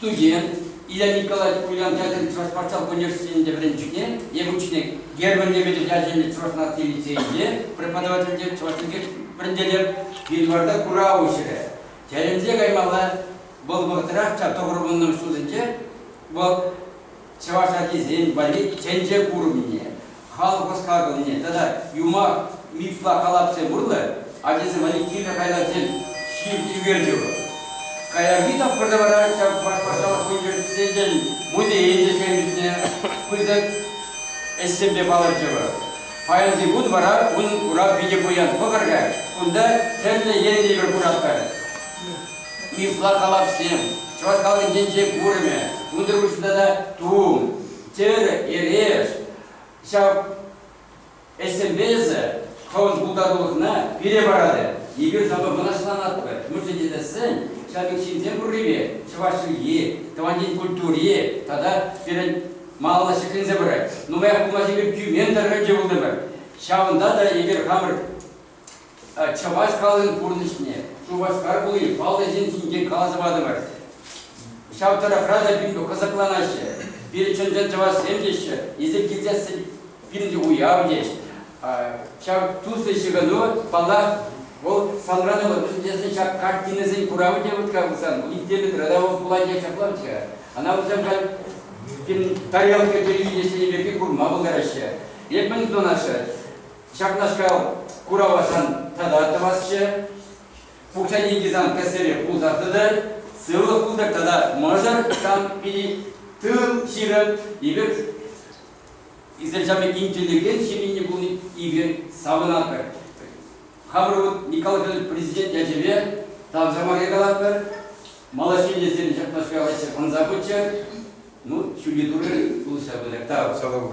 Тутин, Илья Николаевич Ульян ячӗллӗ Чӑваш патшалӑх университетӗнче вӗренчӗкне, Якутчине Герман Лебедев ячӗллӗ Чӑваш наци лицейӗнче преподавательте чӑваш чӗлхи вӗрентетӗп. Январта курав уҫрӗ. Тӗлӗнсе каймалла. Вӑл вӑхӑтрах ҫав тӑхӑр вуннӑмӗш ҫулсенче вӑл чӑваш ачисен валли тӗнче курӑмне, халӑх ӑс-хакӑлне тата юмах, мифпа халапсем урлӑ ачасем валли кирлӗ хайлавсем ҫырт ӳкерчӗкӗ. Каярахи тапхӑрта вара ҫав патшалӑх университечӗн музейӗн те ҫемйисене пысӑк ӗҫсемпе палӑрчӗ. Паянхи кун вара ун курав питӗ пуян. Кӑкӑр каҫ кунта тӗрлӗ енлӗ пӗр кураттар. Чысла халапсем, чӑваш халӑхӗнчен курӑмӗ, унсӑр пуҫне тата тум, тӗр, эреш, ҫав ӗҫсемпе эсӗ хӑвӑн пултарулӑхна пире паратӑр. Эпир санпа мӑнаҫланатпӑр. Мӗншӗн тесен ҫав пек ҫынсем пуррипе чӑваш чӗлхи, тӑван ен культури тата пирӗн малалла ҫӗкленсе пырать. Нумаях пулмасть эпир тӳмен тӑрӑхӗнче пултӑмӑр. Ҫавӑнта та эпир хамӑр Чӑваш халӑхӗн пурнӑҫне, Шупашкар хули паллӑ ҫын ҫинчен каласа патӑмӑр. Ҫав тӑрӑхра та питӗ кӑсӑкланаҫҫӗ. Пирӗн чӑн-чӑн чӑвашсем теҫҫӗ. Эсир килсессӗн пирӗн уяв теҫ. Ҫав туслӑ ҫыхӑну, паллах, вӑл санран ывӑт. Вӗсен ҫак картинӑсен куравӗ те вӑт-ха пулсан, у них теме города у Куладе ҫаплах-ҫке. Ана вӗсем халь пирӗн тарелка телевиденийӗсенче пирки курма пултараҫҫӗ. Эп мӗн тунаҫҫӗ? Ҫакнашкал куравашан тата тӑвасчӗ. Пукҫа деньги сан кӗсере пулса тытӑр, сывлӑх пултӑр тата мӑшӑр сан пири тыл ҫирӗм эпир изначально интеллигент семьйине пулни эпир савӑнатпӑр. Хамӑр вот Николай Федорович президент ячӗпе тавҫӑрмаря калатпӑр. Малаҫилесем ҫакнашкал ӗҫе ӑнса пыччӑр. Ну, ҫӳле турӗ пулӑшса пытӑр. Тав. Сава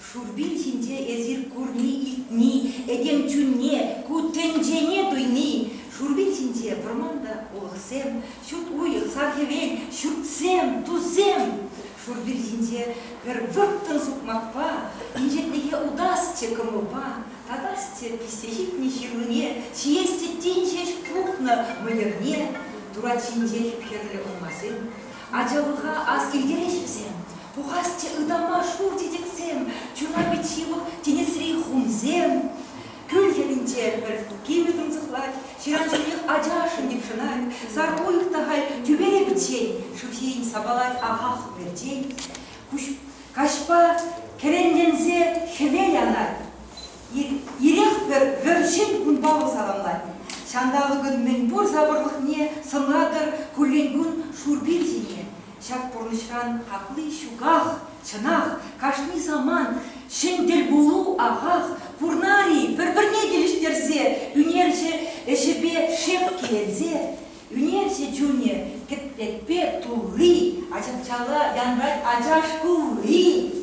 Шурпин ҫинче эсир курни-илтни, этем чунне, ку тӗнчене туйни, шурпин ҫинче вӑрман та, улӑхсем, ҫут уйӑх, сар-хӗвел, ҫуртсем, тусем. Шурпин ҫинче пӗр вӑрттӑн сукмакпа, инҫетлӗхе утасчӗ кӑмӑлпа, татасчӗ пиҫсе ҫитнӗ ҫырлине, ҫиес теттен ҫеҫ пухнӑ мӑйӑрне, турат ҫинче хӗп-хӗрлӗ урмансем. Ачалӑха ас килтерӗҫ вӗсем, Пухасчӗ ытама шур чечексем, чуна пит ҫывӑх тинӗсри хумсем. Кӳл хӗрринче пӗр кимӗ тунсӑхлать, ҫыран-ҫӳлех ачашшӑн йӑпшӑнать, сар уйӑх та халь тӳпере пӗччен, шыв ҫийӗн сапалать ахах перчен. Каҫпа кӗренленсе хӗвел анать. Ирех пӗр вӗрҫен кунпа вӑл саламлать. Ҫанталӑкӑн мӗнпур сапӑрлӑхне сӑнлатӑр куллен кун шур пир ҫине. Ҫак пурнӑҫран хакли ҫуках, чӑнах, кашни самант ҫӗн тӗлпулу ахах пурнар-и? Пӗр-пӗрне килӗштерсе, ӳнерҫӗ ӗҫӗпе шеп киленсе, ӳнерҫӗ чунӗ кӗтлетпе тулли, ачапчала янрать ачаш кулли.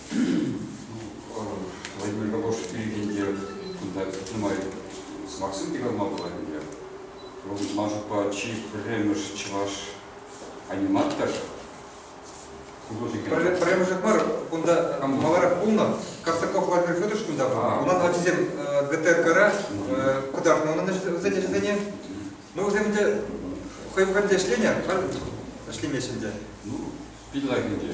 Владимир Кокошев пирӗн те кунта нумай сӑмахсем те калма пулать ӗнтӗ. Вӑл ман шутпа чи пӗрремӗш чӑваш аниматор художник. Пӗрремӗшех мар, кунта маларах пулнӑ. Костаков Владимир Федорович кунта пулнӑ. Унан ачисем ГТРКра кӑтартнӑ унӑн вӗсен ӗҫӗсене. Ну, вӗсем ӗнтӗ хӑй пӗлте ӗҫленӗ, ӗҫлемеҫҫӗ ӗнтӗ. Ну, пит лайӑх ӗнтӗ.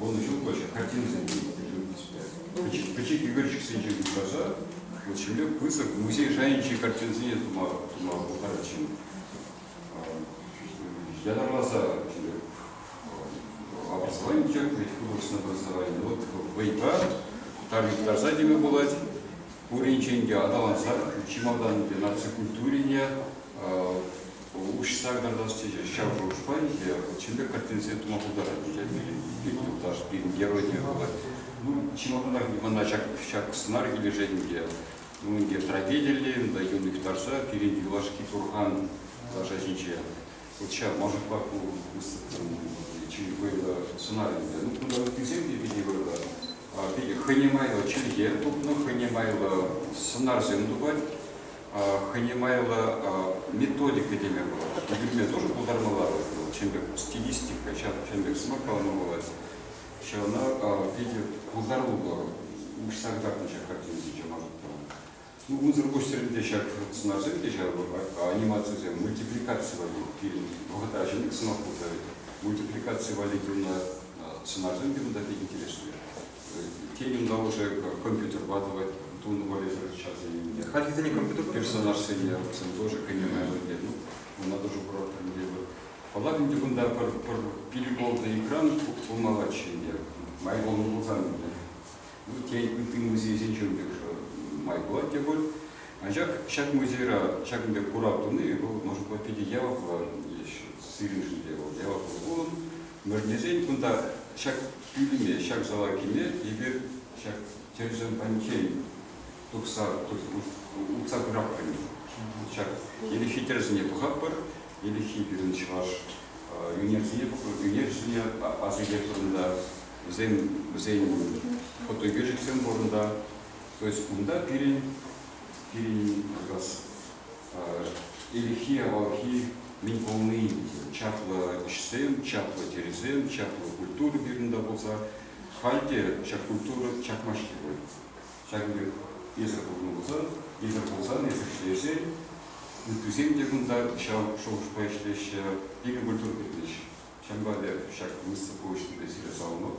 вунӑҫуллӑҫӗ картинӑсенче ӳкерчӗксемпе пӗчӗк пӗчӗк ӳкерчӗксенче упраса вот ҫемле пысӑк музей шайӗнчи картинӑсене тума тума пултарать ҫын ятарласа образование участвовать художественное образование вот вӑйпа тарса теме пулать пуринчен те аталанса чемодан наци культурине Уҫса карташ тесе ҫав шухӑшпа икӗ чӗлле картинсене тума пултарать пирӗн юлташ, пирӗн геройне вӑл. Ну, чӑмӑртанах мана ҫак, ҫак сӑнар килӗшет ӗнтӗ. Ну, ӗнтӗ трагедиллӗ та юн юхтарса пирӗн юлашки турхан лаша ҫинче. Вот ҫав мӑшӑрпа ку выступнӑ чи вӑйлӑ сӑнар ӗнтӗ. Ну, кунта ыттисем те питӗ вӑйлӑ. Питӗ хӑйне майлӑ чӗлхе тупнӑ, хӑйне майлӑ сӑнарсем тупать. хӑйне майлӑ методика теме пулать. Вилме тоже пултармалла вӑл чем пек стилистика, ҫав чем пек смакалама пулать. Ҫавна питӗ пултаруллӑ уҫса кӑтартнӑ ҫак картинӑсенче мансӑрттаран. Ну, унсӑр пуҫсеренте ҫак сӑнарсем те ҫав анимацисем, мультипликаци валли пирӗн вӑхӑта ҫӗнӗк сӑмах пултарать. Мультипликаци валли тунӑ сӑнарсем те унта питӗ интереслӗ. Темӗн калӑшӗ компьютерпа тӑвать, тунӑ валеҫӗр ҫарсене. Хальхисене компьютер персонажсене вӗсем тоже кӗнӗ майлӑ ну, вона тоже курортор мелӗ. Паллах, ӗнтӗ кунта пӗр, пӗр переболнӑ экран пулмаллаччӗ ӗнтӗ, май пулнӑ пулсан ӗнтӗ. Ну, те ытти музейсенчен пек же май пулать те пуль. Анчах ҫак музейра ҫакӑн пек курав туни вӑл, может быть, питӗ яваплӑ есть сирӗншӗн те вӑл яваплӑ пулӑм. Мӗрнесен кунта ҫак Пӳлӗме ҫак зала кӗме эпир ҫак тӗрӗсемпанчен тухса утса пыратпӑр ҫак ирехи тӗрӗсене тухатпӑр. Ирехи пирӗн чӑваш ӳнерсене ӳнерҫӗсене асилет вырӑнта, вӗсен вӗсен фотоӳкерчӗксем вырӑнта. То есть унта пирӗн пирӗн как раз Ирхи-авалхи мӗн пулни чаплӑ ӗҫсем, чаплӑ тӗрӗсем, чаплӑ культура пирӗнта пулса, халь те ҫак культура чакмасть-и пуль. Ҫакӑн пек эсӗр пулнӑ пулсан, эсӗр пулсан, эсӗр ӗҫлесен, ыттисем те кунта ҫав шухӑшпа ӗҫлеҫҫӗ, икӗ культура кирлӗҫ. Ҫавӑнпа эпӗ ҫак мисс пулӑшнипе сире саламлап.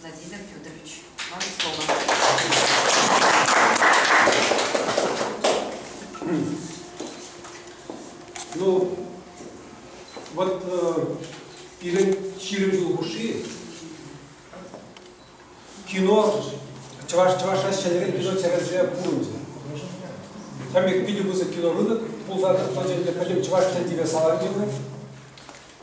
Владимир Федорович, Ларцова. Ну, вот э, пирӗн ҫирӗм ҫул хушши кино чӑваш чӑвашра ҫӗнӗрен кино серверсем пурӑнчӗ. Ҫамрӑк питӗ пысӑк кинорынок пулса тӑчӗ, пӗтӗм чӑваш тӗн тиве саланчӗ.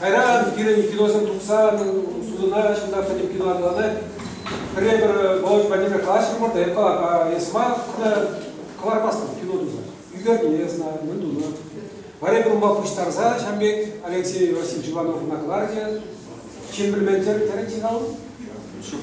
Кайран пирӗн киносем тухсан судӑна ҫынна пӗтӗм кино анланать. Пӗрре пӗр Володь Владимир калаҫрӑмӑр та эппа эс мар кӑлармастӑн кино туса. Ӳкерне знаю, мӗн тунӑ. Вари пулма пуҫтарса ҫам пек Алексей Васильевич Ивановна кӑларчӗ. Ҫын пӗлмен терӗн-терӗн-ши-ха ун? Ҫук.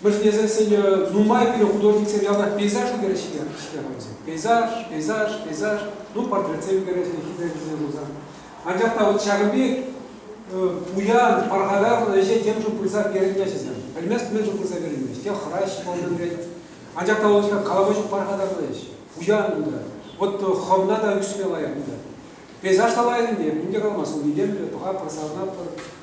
вӗрентекенсене нумай пире художниксем ялтах пейзажу кӗрӗҫ-ҫке хӑйсем. Пейзаж, пейзаж, пейзаж, ну портретсем кӗрӗҫ, хитре пулсан. Анчах та вот ҫакӑн пек пуян, пархатарлӑ ӗҫе темшӗн пырса перӗнмеҫҫӗ. Пӗлмест мӗншӗн пырса перӗнмест. Те хӑраҫҫӗ ман ӳрет. Анчах та вот калаҫу пархатарлӑ ӗҫ. Пуян унта. Вот хӑвна та ӳксме лайӑх унта. Пейзаж та лайӑх ӗнтӗ, мӗн те каламасть, ун илемлӗ, пӑха пӑрсавна пӑр,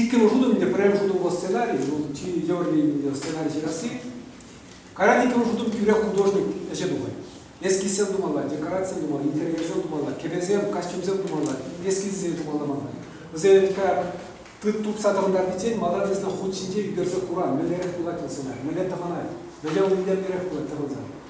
Иккӗмӗш шутӑм ӗнтӗ пӗрремӗш шутӑм вӑл сценарий, шел, чи евӗрлӗ сценарий ҫырасси. Кайран иккӗмӗш шутӑм тӳрех художник ӗҫе тухать. Эскизсем тумалла, декорацисем тумалла, интерьерсем тумалла, кӗпесем, костюмсем тумалла, эскизсем тумалла мана. Вӗсем тупса тӑхӑнтарнисен малтан тесен хут ҫинче ӳкерсе кура мӗнлерех пулать вӑл сценарий, мӗнле тӑхӑнать, мӗнле уйӗнче мӗнлерех пулать тӑхӑнса.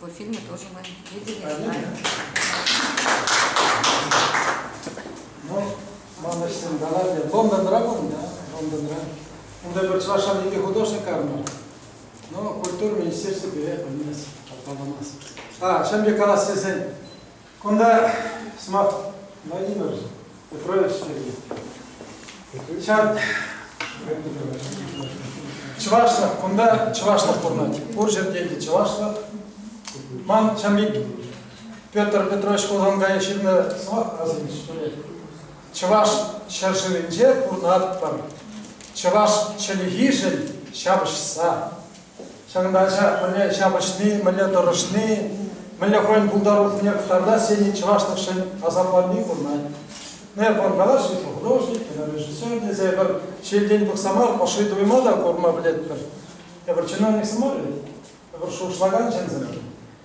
По фильме тоже мы видели. Ну, манӑҫсем даладе. Лондонра пулнӑ, Лондонра. Унта пӗр чӑваш шамники художник карнӑ. Ну, культура министерствипе пӗлмес, калпаламас. А, ҫамбе калас тесен, Кунта сӑмах Владимир Петрович пирки. Ҫав чӑвашлӑх, кунта чӑвашлӑх пурӑнать. Пур ҫӗрте те чӑвашлӑх. Ман ҫам пек Петр Петрович Хусанкай ҫырнӑ сӑмах асӑнчӗ, что ли. Чӑваш ҫӗршывӗнче пурӑнатпӑр. Чӑваш чӗлхишӗн ҫапӑҫса, Ҫакӑнта мӗнле ҫапӑҫни, мӗнле тӑрӑшни, мӗнле хӑйӗн пултарулӑхне кӑтартас тени чӑвашлӑхшӗн асапланни курӑнать. Е пӑр калаҫҫӗ, художник, режиссер тесе пӗр ҫилтен пӑхса мар ӑшши туйма та курма пӗлетпӗр. Эпир чиновник мар, эпир шухӑшлакан ҫынсем.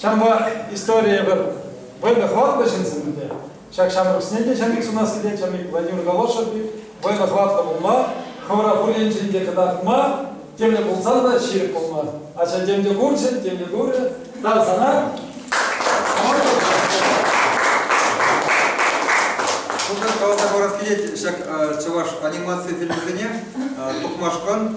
Ҫавӑнпа историе пӗр вӑйлӑ хӑватлӑ ҫынсем те, ҫак ҫамрӑксене те ҫӗнӗлӗх сунас килет. Ҫамрӑк Владимир Голошев пек вӑйлӑ хӑватлӑ пулма, хӑвӑра пур енчен те кӑтартма темле пулсан та ҫирӗп пулма. Ача тем те курчӗ, тем те курӗ. Тав сана. Шупашкар каласа парас килет ҫак чӑваш анимаци фильмӗсене Тухмашкан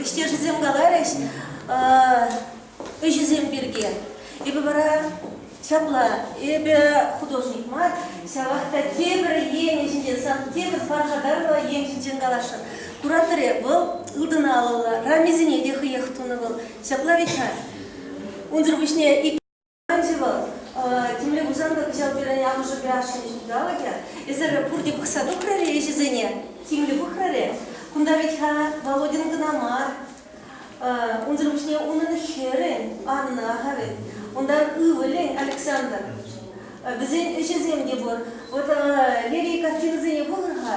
Ӗҫтешӗсем каларӗҫ ӗҫӗсем пирки. Эпӗ вара ҫапла, эпӗ художник мар, ҫавах та тепӗр енӗ ҫинчен, сан тепӗр паршатарлӑ ен ҫинчен каласшӑн. Кураторе вӑл ылтӑн алӑллӑ, рамисене те хӑех тунӑ вӑл. Ҫапла вӗт-ха. Унсӑр пуҫне ик Ӗнтӗ вӑл темле пулсан та кӑҫал пирӗн амӑшӗ граждан ҫулталӑкӗ. Эсир пурте пӑхса тухрӑр-и ӗҫӗсене? Тимлӗ пӑхрӑр-и? Кунта вӗт-ха Володин кӑна мар. Унсӑр пуҫне унӑн хӗрӗн Анна-ха вӗт, унтан ывӑлӗн Александр. Вӗсен ӗҫӗсем те пур. Вот Лерий картинӑсене пулӑр-ха.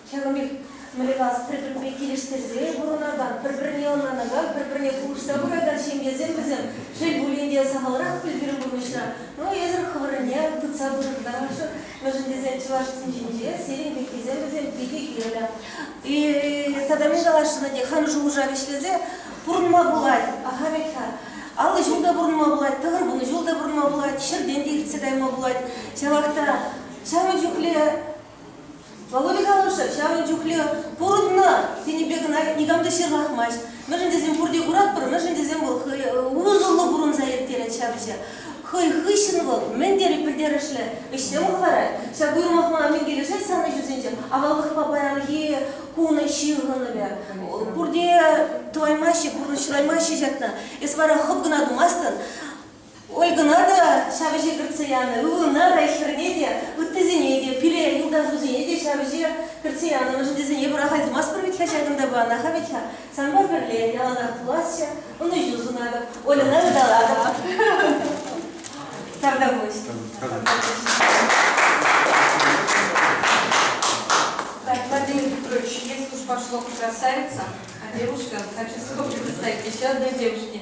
Ҫавӑн пек мӑйракас пӗр-пӗрпе килӗштерсе пурӑнакан, пӗр-пӗрне ӑнланакан, пӗр-пӗрне пулӑшса пыракан ҫемьесем вӗсем, шел пулин те, сахалрах ӳт-пӳрӗн пурнӑҫра. Ну, эсӗр хӑвӑрӑнне тытса пӑшӑрханасшӑн, мӗншӗн тесен чӑвашсен ҫинче сирӗн пеккисем вӗсем питӗ кирлӗ. И тата мӗн каласшӑн те хам шухӑша вӗҫлесе пурӑнма пулать. Аха пек-ха. Аллӑ ҫул та пурӑнма пулать, тӑхӑр вунӑ ҫул та пурӑнма пулать, ҫӗртен те иртсе кайма пулать. Ҫавах та ҫавӑн чухлӗ Володя калӑршӑ ҫавӑн чухлӗ пурӑннӑ тенӗ кӑна никам та ҫырлахмасть. Мӗншӗн тесен пурте куратпӑр, мӗншӗн тесен вӑл хӑй усӑллӑ пурӑнса ирттерет ҫапӑҫа. Хӑй хыҫҫӑн вӑл мӗн тери пӗлтерӗшлӗ ӗҫсем хӑварать. Ҫак уйрӑмлӑхпа мӗн килӗшет сан ӗҫӳсенче? Аваллӑхпа паянхи кун ҫыхӑнӑвӗ. Пурте тӑваймаҫҫӗ, пурнӑҫ шыраймаҫҫӗ ҫакна. Эс вара хӑп кӑна тумастӑн. Ольгӑна та ҫав ӗҫе кӗртсе янӑ, ывӑлна та, хӗрне те, ыттисене те, пире, юлташусене те ҫав ӗҫе кӗртсе янӑ. Мӗншӗн тесен эпӗ пӑрахаймастпӑр вӗт-ха ҫакӑнта панӑ-ха вӗт-ха. Санпа пӗрле яланах пуласчӗ, ӑнӑҫу сунатӑп, Ольӑна ыталатӑп. Сарта пуҫ. Так, Владимир Петрович, если уж пошло красавица, а девушка хочу с вами представить еще одной девушке.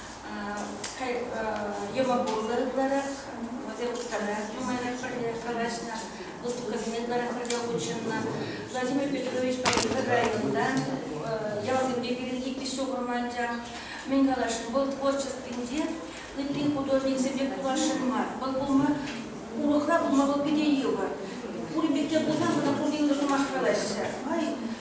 йӑва пулнӑ ытларах, вӗсем вторая прямая пӗрле калаҫнӑ, выставкӑсене ытларах пӗрле хутшӑннӑ. Владимир Петровичпа эпир районта ялсемпе пирӗн икӗ ҫухрӑм анчах. Мӗн каласшӑн, вӑл творчествинче ытти художниксемпе пуласшӑн мар. Вӑл пулма, урӑхла пулма вӑл питӗ йывӑр. Пурин пекке пулсан вӑл пурте ырӑ сӑмах калаҫҫӗ. Май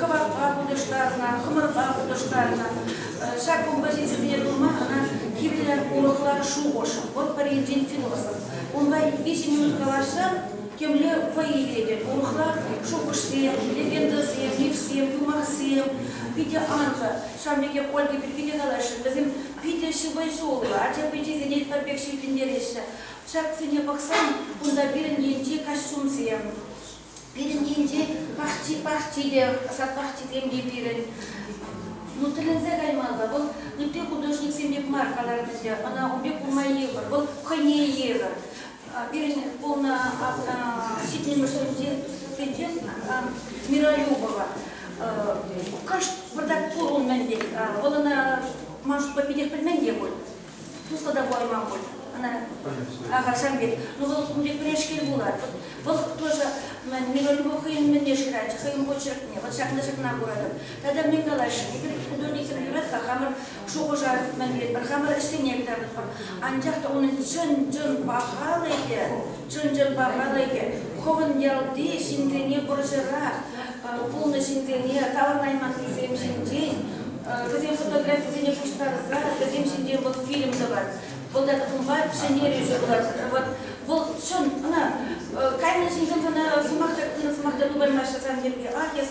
кӑварпа хутӑштарнӑ, хӑмӑрпа хутӑштарнӑ. Ҫак кунпа ҫынсемпе пулма ӑна кирлӗ урӑхла шухӑш. Вӑл пӗр енчен философ. Унпа виҫӗ минут калаҫсан темле вӑй илетӗп. Урӑхла шухӑшсем, легендӑсем, мифсем, юмахсем питӗ анлӑ. Ҫавӑн пекех Ольга пирки те калаҫрӑм. Вӗсем питӗ ҫыпӑҫуллӑ, ача пичисене пӗр пек ҫилкӗнтереҫҫӗ. Ҫаксене пӑхсан унта пирӗн енчи костюмсем, Пирӗннинче пахчи-пахчи те, сад-пахчи тем те пирӗн. Ну, тӗлӗнсе каймалла. Вӑл ытти художниксем пек мар каларӗ Ӑна ун пек курма йывӑр. Вӑл хӑйне йывӑр. Пирӗн полна ҫитмӗлшӗнче Миролюбова. Кӑшт выртать пур ун мӗн пек. Вӑл ӑна, ман шутпа, питех пӗлмен те пуль. туслӑ та пулайман пуль ӑна ахальсем пек. Ну вӑл ун пек пӗрешкел пулать. Вӑл тоже Миронова хӑйӗн мӗнне шыратчӗ, хӑйӗн почеркне. Вот ҫакна ҫакна куратӑп. Тата мӗн калаҫҫӗ? Эпир художниксем юрать-ха хамӑр шухӑша мӗнлетпӗр, хамӑр ӗҫсене кӑтартӑпӑр. Анчах та унӑн чӑн-чӑн пахалӑхӗ Чун-чӗр пахалӑхӗ хӑвӑн ялти ҫынсене вӑрҫӑрах пулнӑ ҫынсене таврӑнайманнисем ҫинчен, вӗсен фотографийӗсене пуҫтарса вӗсем ҫинчен вӑл фильм тӑвать. Вӑл та тӑхӑмпа ҫӗнтерӳҫӗ пулать. Вот вӑл чӑн ӑна кайнӑ ҫынсем ӑна сӑмах та пынӑ сӑмах та тупаймаҫҫӗ сан пирки. Ах, эс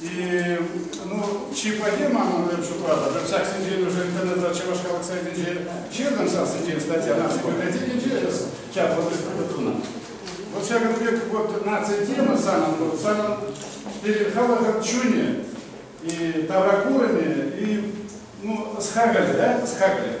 Ну, чи плохие, мама шутлата. Ҫак сентябрь уже интернетра Чӑваш халӑх сайтӗнче ҫырнӑ ҫав сентябрь статья, она все библиотеке сейчас вот прокуратура. Вот ҫакӑн пек вот нация тема самом, вот самом перед халӑх чуне и табакурами, и ну, схагали, да, схагали.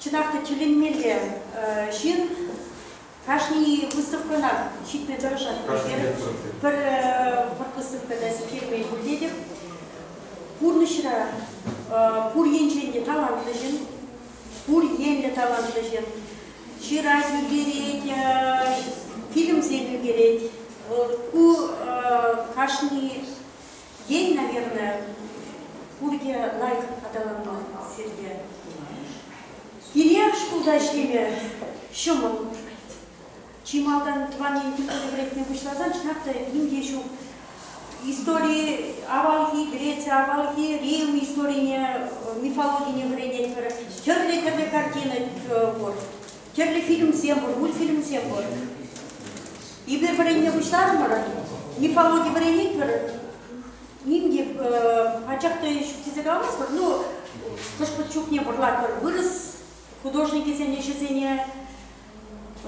Чӑнах та тӳленмелле ҫын кашни выставкӑна ҫитме тӑрӑшать. Пӗр выставка та сиктермен пултетӗп. Пурнӑҫра пур енчен те талантлӑ ҫын, пур енлӗ талантлӑ ҫын ҫырать, ӳкерет, фильмсем ӳкерет. Ку кашни Ен, наверное, пурте лайӑх аталанман сирте. Кирек шкулта ӗҫлеме ҫӑмӑл. Чи малтан тӑван ен культури вӗрентме пуҫласан чӑнах та ним те ҫук. Истори авалхи, Греция авалхи Рим историне, мифологине вӗренетпӗр. Тӗрлӗ-тӗрлӗ картина пур. Тӗрлӗ фильмсем пур, мультфильмсем пур. Эпир вӗренме пуҫларӑмӑр. Мифологи вӗренетпӗр. Ним те пачах та ҫук тесе каламастпӑр. Ну, хӑш-пӗр чухне вӑрлатпӑр вырӑс художникӗсен ӗҫӗсене,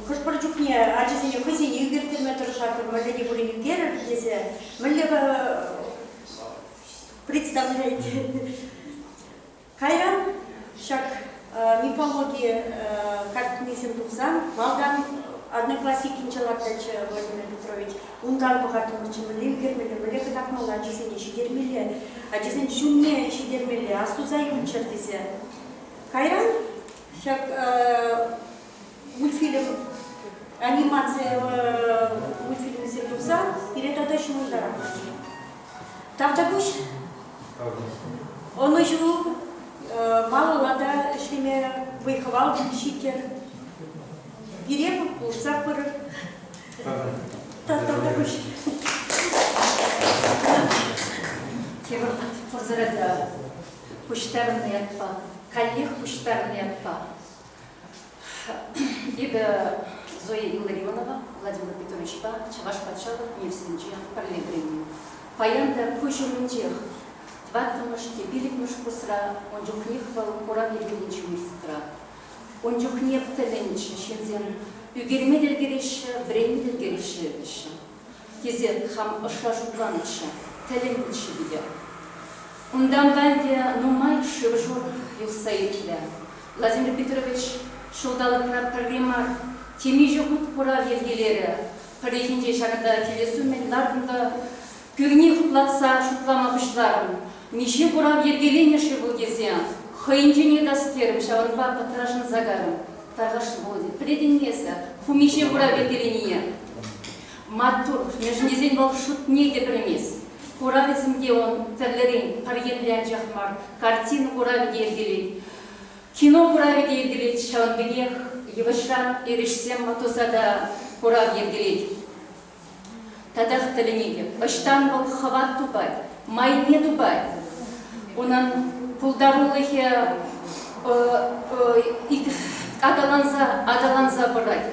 хӑш-пӗр чухне ачасене хӑйсене ӳкерттерме тӑрӑшатпӑр, мӗнле те пулин ӳкерӗр тесе, мӗнле представлять Кайран ҫак мифологи картинисем тухсан малтан Одноклассникӗнче лартатчӗ Владимир Петрович. Унтан пӑхаттӑмӑрччӗ мӗнле ӳкермелле, мӗнле кӑтартмалла ачасене ҫитермелле, ачасен ҫумне ҫитермелле, астуса юлччӑр тесе. Кайран ҫак мультфильм анимаци мультфильмӗсем тухса пире тата ҫывӑртаратчӗ. Тавтапуҫ. Ӑнӑҫу малалла та ӗҫлеме вӑй-хӑвал ҫиттер. Пире пулӑшса пырӑр. Тавтапуҫ. Киров пӑрсӑрата пуҫтарнӑ ятпа, каллех пуҫтарнӑ ятпа Эпӗ Зоя Илларионова Владимир Петровичпа Чӑваш патшалӑх университетӗнче пӗрле вӗреннӗ. Паян та куҫ умӗнчех. Тӑваттӑмӗш те пиллӗкмӗш курсра ун чухнех вӑл курав йӗркеленӗ университетра. Ун чухне пӗтӗмӗнче ҫынсем ӳкерме те ӗлкӗреҫҫӗ, вӗренме те ӗлкӗреҫҫӗ, теҫҫӗ. тесе хам ӑшра шутланӑччӗ, тӗлӗннӗччӗ питӗ. Унтанпа ӗнтӗ нумай шыв-шур юхса иртлӗ. Владимир Петрович ҫулталӑкра пӗрре мар темиҫе хут курав йӗркелерӗ, пӗррехинче ҫакӑнта килес умӗн лартнӑ пӳрне хуплатса шутлама пуҫларӑм. Миҫе курав йӗркеленӗ-ши вӑл тесе хӑйӗнчен йӑтас терӗм, ҫавӑнпа пӑтрашӑн Загар, тархасшӑн, Володя, пӗлетӗн-и эсӗ ку миҫе курав йӗркеленине? Маттур, лешнесен вӑл шутне те пӗлмест. Куравӗсем те ун тӗрлӗрен пӗр енле анчах мар, картина куравӗ те йӗркелет, кино куравӗ те йӗркелет. Ҫавӑн пекех йывӑҫран эрешсем туса та курав йӗркелет. Татах тӗлӗнетӗп. Ӑҫтан вӑл хӑват тупать, майне тупать? Унӑн пултарулӑхӗ аталанса аталанса пырать.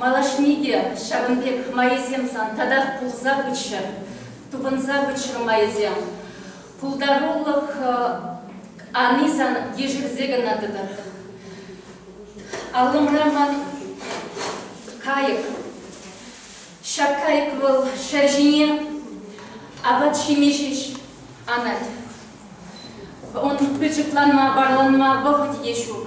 Малашне те ҫавӑн пек майӗсем сан татах пулса пыччӑр, тупӑнса пыччӑр майӗсем. Пултарулӑх ани сан ешерсе кӑна тӑтӑр. Аллӑмра ман кайӑк. Ҫак кайӑк вӑл ҫӗр ҫине апат-ҫимеҫ анать. Ун пӗчӗкланма, вараланма вӑхӑт те ҫук.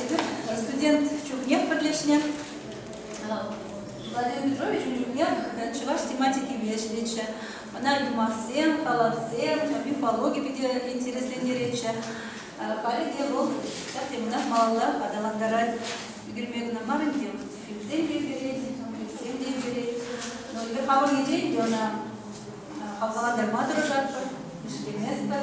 Эпир студент чухнех пӗрлешнӗ. Владимир Петрович ун чухне чӑваш тематикипе ӗҫлетчӗ. Ӑна юмахсем, калавсем, мифологи питӗ интереслентеретчӗ. Халӗ те вӑл ҫак темӑнах малалла аталантарать. Ӳкерме кӑна мар ӗнтӗ, фильмсем те ӳкерет, мультфильмсем те ӳкерет. Но эпир хавхаланиччен те ӑна хавхалантарма тӑрӑшатпӑр, ӗҫлеместпӗр.